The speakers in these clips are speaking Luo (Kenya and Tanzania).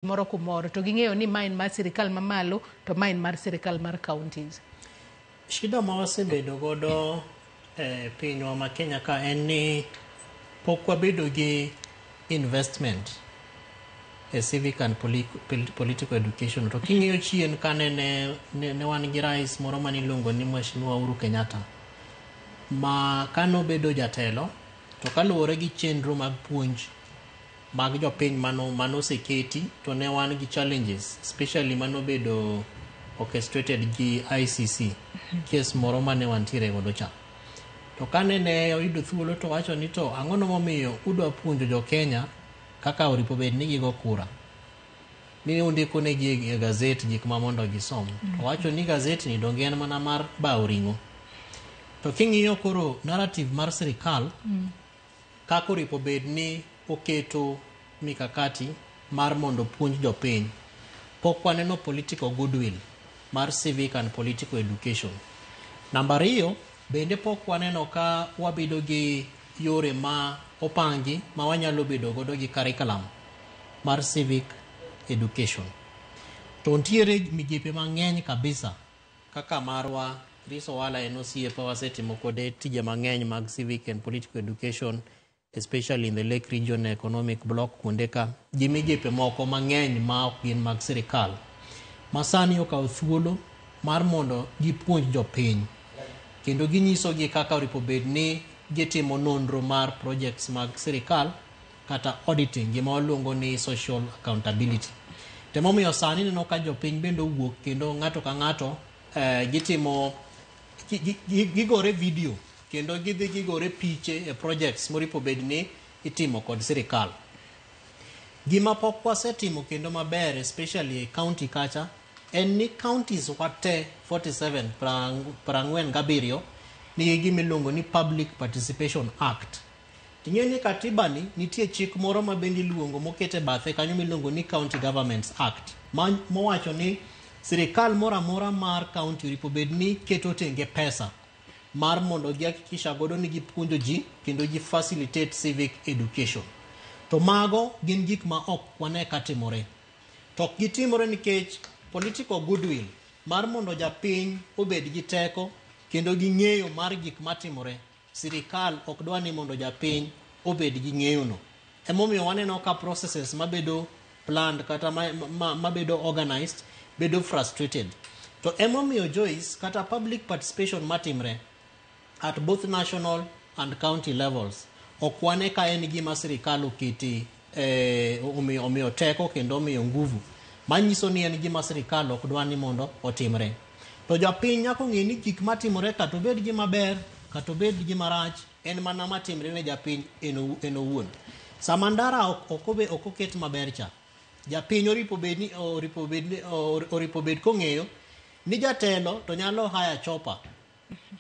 moro kumoro to ging'eyo ni ma en mar sirikal mamalo to ma en mar sirikal mar counties. Shida ma wasebedo godo e pinywa ma Kenya ka en ni pok wabedo gi investment e civic and political education. To king'iyo chien kane ne, ne, ne wan gi rais moro mane iluongo ni Mheshimiwa Uhuru Kenyatta ma kane obedo jatelo to kaluwore gi chenro mag puonj mag jopiny mano mano oseketi to ne wan gi challenges especially mano bedo orchestrated gi ICC case moro mane wantiere godo cha to kane ne oyudo thuolo to wacho ni to ang'o no momiyo udwa puonjo jo Kenya kaka oripo bed ni gigo kura ni undiko ne gi e gazet gik ma mondo gisom to wacho ni gazet ni donge en mana mar bawo ring'o to king'iyo koro narrative mar sirikal Ka koro ipo bed ni oketo mikakati mar mondo opuonj jopiny, pok waneno political goodwill mar civic and political education. Namba ariyo, bende pok waneno ka wabedo gi yore ma opangi ma wanyalo bedo godo gi curriculum mar civic education. To ntiere migepe mang'eny kabisa Kaka marwa, Chris Owala en osiepa wasetimo kode tije mang'eny mag civic and political education especially in the Lake Region Economic Block kuonde ka gi migepe moko mang'eny ma ok gin mag sirkal ma sani okawo thuolo mar mondo gipuonj jopiny kendo ginyisogi kaka oripo bed ni gitimo nonro mar projects mag sirkal kata auditing gima waluongo ni social accountability to emomiyo sani neno ka jopiny bende owuok kendo ng'ato ka ng'ato eh, gitimo gi- gi- gi- gigore video kendo gidhi gigore piche e projects moripo bed ni itimo kod sirikal gima pok wasetimo kendo maber especially e county kacha en ni counties wate 47 prang- prang'wen gabiriyo nigi gima iluongo ni public participation act Ing'e ni katiba ni nitie chik moro ma bende iluongo moket e bathe kanyo miluongo ni County Governments Act ma- mowacho ni sirikal moro amora mar county oripo bed ni keto tenge pesa mar mondo gihakikisha godo ni gipuonjo ji kendo gi facilitate civic education. To mago gin gik ma ok wane katimore. To ok gitimore nikech political goodwill mar mondo japiny obed gi teko kendo gi ng'eyo mar gik matimore Sirikal ok dwa ni mondo japiny obed gi ng'eyono. Emomiyo waneno ka processes mabedo planned kata mabedo ma, ma organized bedo frustrated. To emomiyo Joyce kata public participation matimre at both national and county levels ok wane ka en gima sirikal okete eh, omiyo, omiyo teko kendo omiyo nguvu manyiso ni en gima sirikal ok dwa ni mondo otimre to japiny nyaka ong'e ni gik matimore kata obed gima ber kata obed gima rach en mana matimre ne japiny en owu- en owuon sama ndara ok- ok obe- ok oket maber cha japiny oripo bed ni oripo bed ni- or- oripo bed kong'eyo ni jatelo to nyalo haya chopa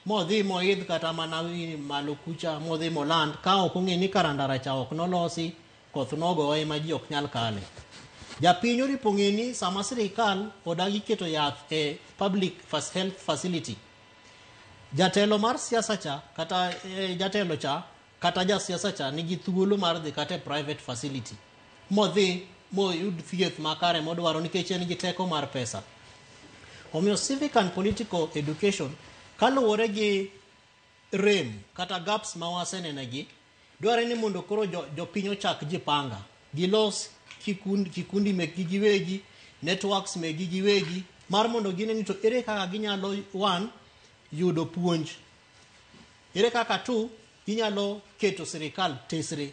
modhi moidh kata mana wi malo kucha modhi moland ka ok ong'e ni karandara cha ok nolosi koth nogoye ma ji ok nyal kale japiny oripo ng'e ni sama sirikal odagi keto yath e public fas- health facility jatelo mar siasa cha kata eh, jatelo cha kata jasiasa cha nigi thuolo mar dhi kata e private facility modhi moyud thieth makare modwaro nikech en gi teko mar pesa omiyo civic and political education kaluwore gi rem kata gaps ma wasenenegi dwarore ni mondo koro jo- jopiny ochak jipanga gilos kikundi, kikundi mekgi giwegi networks mekgi giwegi mar mondo gine ni to ere kaka ginyalo one yudo puonj Ere kaka tu inyalo keto sirikal tesre